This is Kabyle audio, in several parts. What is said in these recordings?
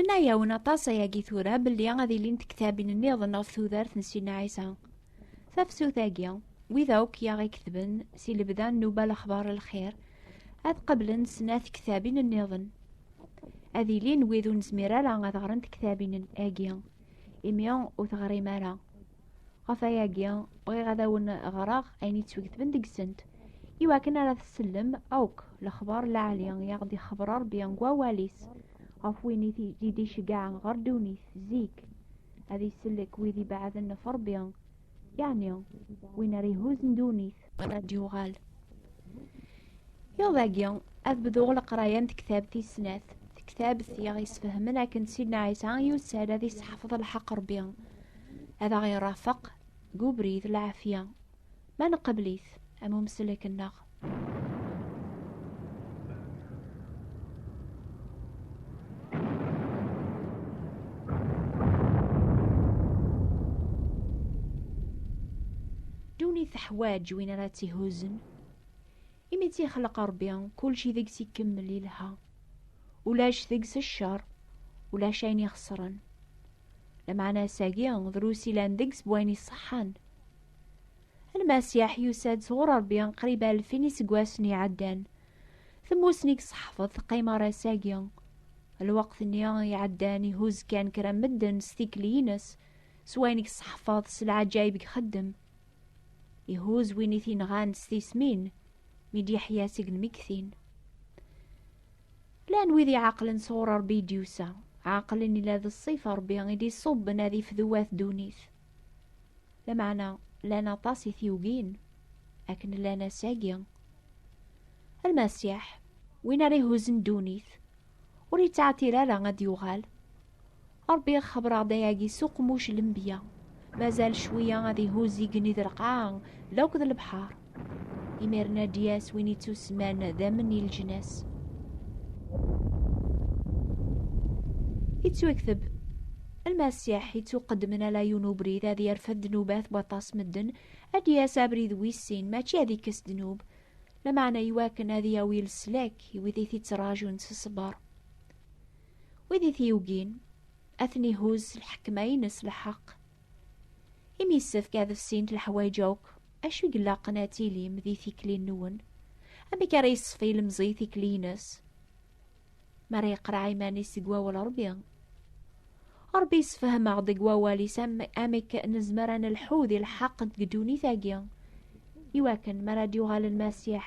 Nna yawen aṭas ayagi tura belli ad ilint ktabin nniḍen ɣef tudert n Sina Ɛisa. Tafsut-agi, wid akk i aɣ-iketben si lebda n nuba lexbar n lxir, ad qablen snat ktabin nniḍen. Ad ilin wid ur nezmir ara ad ɣren tektabin-agi, imi ur teɣrim ara. ɣef ayagi bɣiɣ ad awen ɣreɣ ayen yettwegtben deg-sent iwakken ara tsellem akk lexbar laɛli i aɣ-d-ixebber Rebbi deg wawal-is ɣef win i d-iceggɛen ɣer ddunit zik ad isellek wid ibeɛden ɣef Rebbi yeɛni win ara ihuzzen ddunit Ad d-yuɣal. Iḍ agi, ad bduɣ leqraya n tektabt tis snat. Tektabt i aɣ-yesfehmen akken Sidna Ɛisa yusa-d ad yesseḥfeḍ lḥeqq Rebbi, ad aɣ-irafeq deg ubrid lɛafya, ma nqebbel-it am umesslek-nneɣ. Duni teḥwaǧ win ara tt-ihuzen. Imi tt-ixleq Ṛebbi, kulci deg-s ikemmel ilha. Ulac deg-s cceṛ, ulac ayen ixeṣren. Lameɛna ass-agi, drus ilan deg-s bwayen iṣeḥḥan. Lmasiḥ yusa-d sɣur Ṛebbi qrib alfin iseggasen iɛeddan. Temmussni deg ṣeḥfeḍ teqqim ɣer ass-agi. Lweqt-nni iɛeddan ihuzz kan kra n medden s tikli-ines, s wayen deg ṣeḥfeḍ s leɛǧayeb deg xeddem. Ihuzz win i t-inɣan s tismin, mi d-yeḥya seg lmegtin. Llan wid iɛeqlen sɣur Ṛebbi i d-yusa, ɛeqlen ila d ṣṣifa Ṛebbi i d-iṣubben ad ifduwat ddunit. Lameɛna llan aṭas i t-yugin akken llan ass-agi. Almasiḥ, win ara ihuzzen ddunit, ur yettɛeṭṭil ara ad d-yuɣal. Ṛebbi ixebber-aɣ-d ayagi s uqmuc n lenbiya, mazal cwiya ad ihuzz igenni d lqaɛa d akk d lebḥeṛ. Imiren ad d-yas win ittusman d amen i leǧnas. Ittwakteb Lmasiḥ ittuqeddmen ala yiwen ubrid ad yerfed ddnubat waṭas medden, ad d-yas abrid wis sin, mačči ad ikkes ddnub, lameɛna iwakken ad yawi leslak i wid i t-ittrajun s ṣṣber. Wid i t-yugin, ad ten-ihuzz s lḥekma-ines lḥeqq. Imi yessefk ad fsint leḥwayeǧ akk Acu i ilaqen ad tilim di tikli-nwen? Amek ara yeṣfi ilemẓi tikli-ines? Mi ara yeqreɛ iman-is deg wawal Ṛebbi. Ṛebbi yessefhem-aɣ-d deg wawal-is amek nezmer ad nelḥu di lḥeqq deg ddunit-agi. Iwakken mi ara d-yuɣal Lmasiḥ,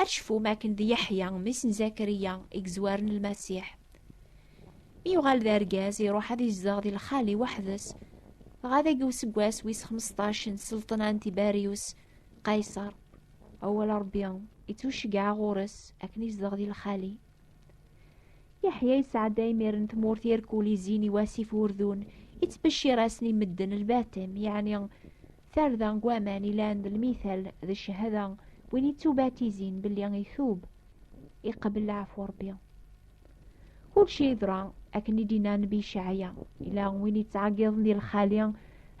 Ad tecfum akken d Yeḥya, mmi-s n Zakariya, i yezwaren Lmasiḥ. Mi yuɣal d argaz, iruḥ ad izdeɣ di lxali weḥd-s. Dɣa dagi useggas wis xmesṭac n sselṭna n Tibarius Qayṣer, awal Ṛebbi ittuceggeɛ ɣur-s akken izdeɣ di lxali. Yeḥya yesɛedda imiren tmurt irkulizin i wasif Urdun, ittbeccir-asen i medden lbatem, yeɛni Tarda n waman ilan d lmithal d cchada win ittubatizin belli itub, iqbel leɛfu Rebbi. Kulci yeḍra akken i d-inna Nnbi Cɛaya, ila win ittɛeggiḍen di lxali,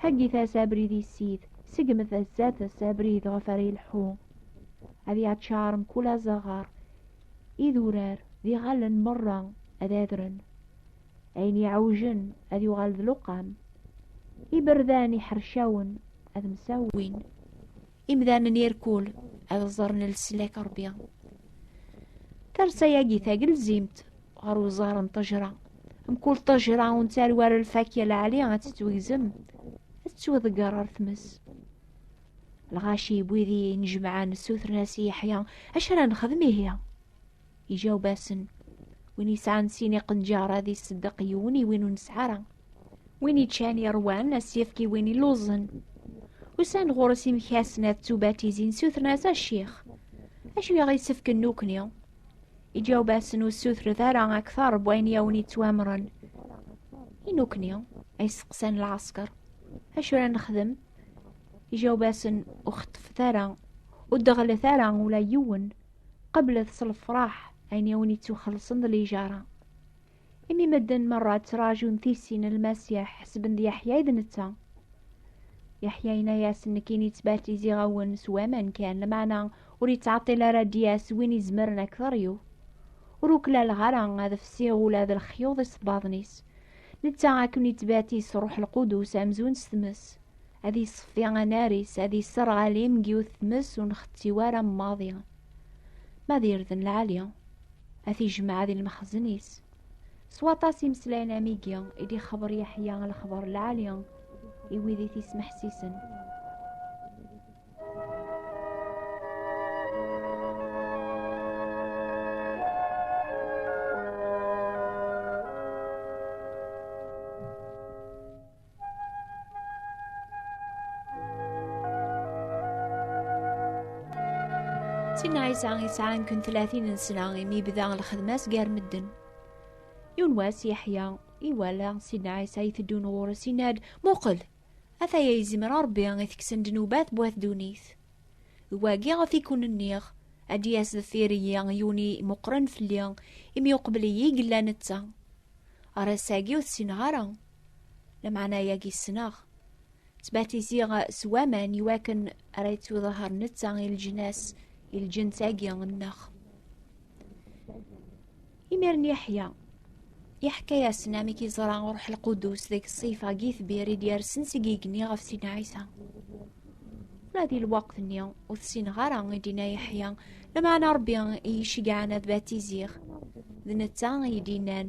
heggit-as abrid i ssid, segmet zdat-s abrid ɣef ara ilḥu. Ad yaččar mkul azaɣar, idurar d iɣallen merra ad adren. ayen iɛewjen ad yuɣal d luqam iberdan iḥercawen ad msawin imdanen irkul ad ẓren leslak ṛebbi tarsa-yagi tagelzimt ɣer uẓar n ṭejra mkul ṭejra ur nettali ara lfakya lɛali ad tettwegzem ad tettweḍegger ɣer tmes lɣaci wid i nejmaɛen ssutren-as i Yeḥya acu ara nexdem ihi Iǧaweb-asen, Win yesɛan sin iqenǧar ad iṣeddeq yiwen i win ur nesɛi ara. Win yeččan iṛwan ad s-yefk i win illuẓen. Usan-d ɣur-s imekkasen ad ttubatizin, ssutren-as, A Ccix, acu i aɣ-yessefken nekkni? Iǧaweb-asen, Ur ssutret ara akteṛ n wayen i awen-yettwamren. I nekkni? ay seqsan lɛesker. Acu ara nexdem? Iǧaweb-asen, Ur xeṭṭfet ara, ur d-ɣellet ara ula yiwen. qeblet s lefraḥ ayen i wen-ittuxelṣen d lijara. Imi medden merra ttrajun tissin n Lmasiḥ ḥesben d Yeḥya i d netta. Yeḥya yenna-yasen nekkini ttbatiziɣ-awen s waman kan, lameɛna ur yettɛeṭṭil ara ad d-yas win izemren ad k-teryu. Ur uklaleɣ ara ad fsiɣ ula d lexyuḍ isebbaḍen-is. Netta ad ken-ittbatiz s Ṛuḥ Lqudus amzun s tmes. ad iṣeffi anar-is ad isserɣali meg yiwet tmes ur nxetti ara maḍi ma ad irden lɛali ad t-ijmeɛ di lmexzen-is s waṭas imeslayen amigi i d-ixeber Yeḥya lexber lɛali i wid i t-ismeḥsisen Sin Ɛisa yesɛan kun tlatin n sna imi bda lxedma-s gar medden. Yiwen wass Yeḥya iwala Sin Ɛisa iteddun ɣur-s inna-d muqel ataya yezmer Rebbi i teksen ddnubat bu at dunit. D wagi ɣef i kun-nniɣ ad d-yas deffir-iyi yuni meqqren fell-i imi uqbel-iyi yella netta. Ar ass-agi ur t-ssineɣ ara. Lameɛna yagi ssneɣ. Ttbatiziɣ s waman i wakken ara yettuḍaher netta i leǧnas, i lǧens-agi nneɣ. Imiren Yeḥya, yeḥka-yasen amek yeẓra Ruḥ Lqudus deg ṣṣif-agi tbir i d-yersen seg igenni ɣef Sina Ɛisa. Ula di lweqt-nni ur tessineɣ ara i d-inna Yeḥya, lameɛna Rebbi i yi-ceggɛen ad batiziɣ. D netta i yi-d-innan.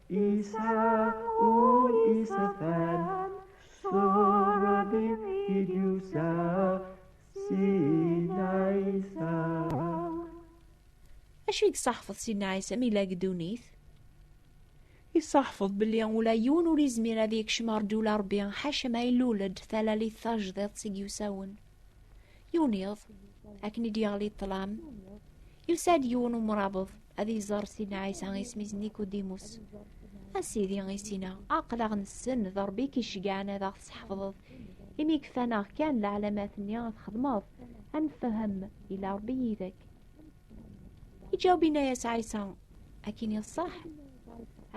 Isa ul isa fan Sora bir idyusa Sina isa Acu i d-saḥfeḍ Sina Isa mi la gdunit? Isaḥfeḍ belli ula yiwen ur izmir ad yekcem ar ddula Rebbi ḥaca ma ilul-d talalit tajdiḍt i yusawen. Yuniḍ, akken i d-yeɣli ṭṭlam, Yusa-d yiwen umrabeḍ ad iẓer Sidna Ɛisa isem-is Nikudimus. A Sidi isina, aql-aɣ nessen d Ṛebbi i k-iceggɛen ad aɣ-tesḥefḍeḍ. Imi kfan-aɣ kan leɛlamat-nni ad txedmeḍ, ad nfehhem ila Ṛebbi yid-k. Iǧaweb inna-yas Ɛisa, akin iṣṣeḥ,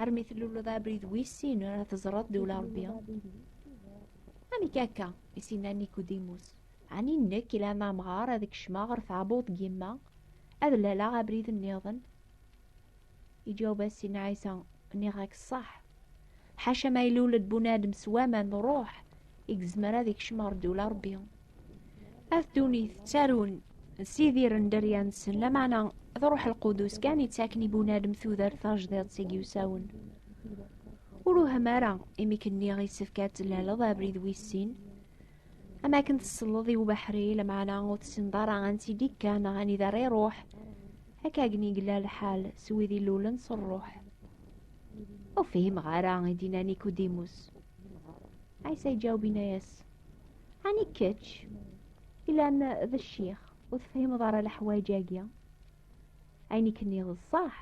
armi tluleḍ abrid wis sin ara teẓreḍ d ula Ṛebbi. Amek akka? i s-inna Nikudimus. Ɛni nekk ilan amɣar ad kecmeɣ ɣer tɛebbuḍt n yemma, ad laleɣ abrid nniḍen? Iǧaweb-as Sidna Ɛisa, Nniɣ-ak ṣṣeḥ. Ḥaca ma ilul-d bunadem s waman d ṛuḥ i yezmer ad ikcem ɣer ddula Ṛebbi. At ddunit ttarun s idir n dderya-nsen, lameɛna d ṛuḥ lqudus kan yettaken i bunadem tudert tajdiṭ i yusawen. Ur uhem ara imi k-nniɣ yessefk ad tlaleḍ abrid wis sin, am akken tesleḍ i ubeḥri lamaɛna ur tessineḍ ara ansi d-ikka neɣ anida ara iruḥ akka akken yella lḥal s wid ilulen s rruḥ ur fhimeɣ ara i d-inna nikudimus ɛisa iǧaweb inna-yas ani kečč ilan d ccix ur tefhimeḍ ara leḥwayeǧ-agi ayen i k-nniɣ d ṣṣaḥ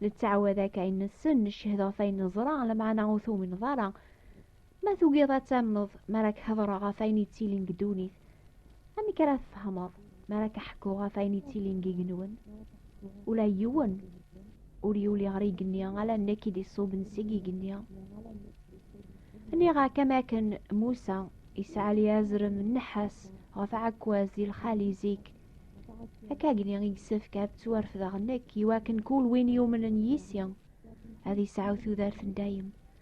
nettɛawad akka ayen nessen neccehed ɣef ayen neẓra lamaɛna ur tumineḍ ara Ma tugiḍ ad tamneḍ mi ara k-hedreɣ ɣef ayen yettilin deg ddunit, amek ara tfehmeḍ mi ara k-ḥkuɣ ɣef ayen yettilin deg igenwan? Ula yiwen ur yuli ɣer igenni ala nekk i d-iṣuben seg igenni. Nniɣ-ak am akken Musa isɛali azrem n nnḥas ɣef aɛekkaz di lxali zik, akkagni i yessefk ad ttwarefdeɣ nekk iwakken kul win yumnen yis-i ad isɛu tudert n dayem,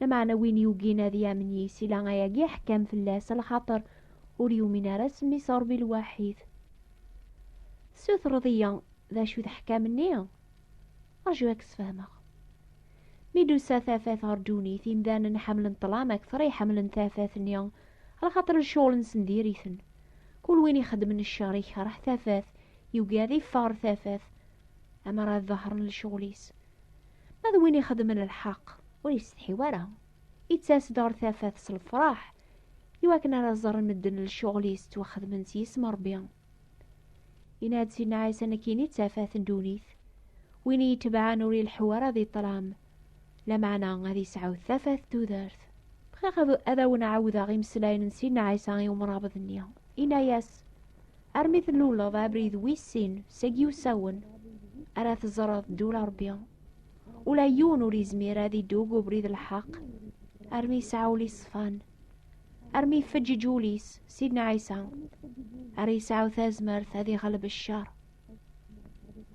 Lameɛna win yugin ad yamen yis i la ayagi iḥekkam fell-as, lxaṭer ur yumin ara s mmi-s Ṛebbi lwaḥid. Tessutreḍ-iyi d acu i d aḥkam-nni? Ṛju ad k-sfehmeɣ. Mi d-tusa tafat ɣer ddunit, imdanen ḥemmlen ṭṭlam akteṛ i ḥemmlen tafat-nni, lxaṭer lecɣel-nsen diri-ten. Kul win ixeddmen cceṛ ikeṛh tafat, yugi ad iffeɣ ɣer tafat, ammer ad ḍehren lecɣel-is. Ma d win ixedmen lḥeq ur yessetḥi ara, ittas-d ɣer tafat s lefraḥ iwakken ara ẓerren medden lcuɣel-is ttwaxedmen s yisem Rebbi. Yenna-d Sidna Ɛisa nekkini d tafat n ddunit, win iyi-itebɛen ur ileḥḥu ara di ṭṭlam, lameɛna ad yesɛu tafat n tudert. Bɣiɣ ad awen-ɛawdeɣ imeslayen n Sidna Ɛisa i umrabeḍ-nni. Yenna-yas, armi tluleḍ abrid wis sin seg yiwsawen ara teẓreḍ ddul rebbi ula yiwen ur izmir ad idug ubrid lḥeq armi yesɛa ul iṣfan armi ifeǧǧiǧ ul-is sidna ɛisa ar yesɛu tazmert ad iɣleb ccer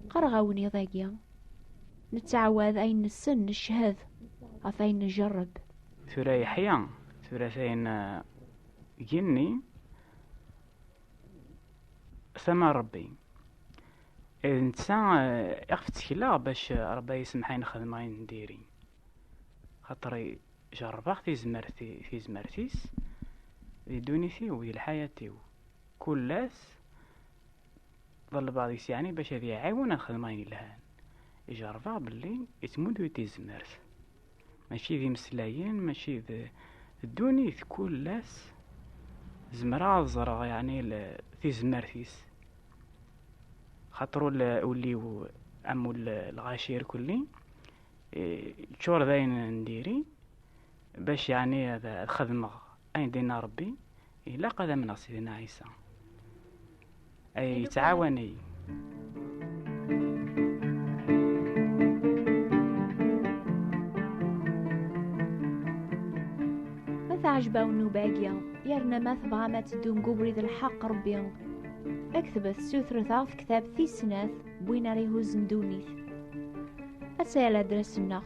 qqareɣ awen iḍ-agi nettɛawad ayen nessen neched ɣef ayen njerreb tura yeḥya tura tayen uh, genni tama n Ṛebbi. D netta eh, iɣef ttekleɣ bac eh, Ṛebbi yesmeḥ ayen xedmeɣ ayen n diri. Xaṭer jerrbeɣ tizmert-is di ddunit-iw, di lḥayat-iw. Kul ass ḍelbeɣ deg-s yeɛni bac ad yi-iɛiwen ad xedmeɣ ayen yelhan. Ijerrbeɣ belli yettmudu-yi-d tizmert. mačči d imeslayen mačči d ddunit kul ass zemreɣ ad ẓreɣ yeɛni tizmert-is xaṭer ul-iw am ul lɣaci irkelli ččur d ayen n diri bac yeɛni ad xedmeɣ ayen d-inna Rebbi ilaq ad amneɣ Sidina Ɛisa ay tɛawaney ma teɛjba wen ubagi yerna ma tebɣam ad teddum deg ubrid lḥeq rebbi aktbet sutret aɣ tektab tis snat win ara ihuzzen ddunit ad tayal adres-nneɣ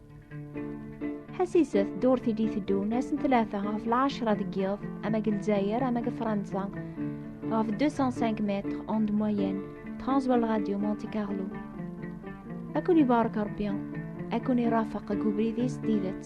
Ḥasiset ddurt i d-iteddun ass n tlata ɣef lɛecra deg yiḍ ama deg Lezzayer ama deg Fransa ɣef 205 mètres en moyenne Transworld Radio Monte Carlo ad ken-ibarek Rebbi ad ken-irafeq deg ubrid-is d tidet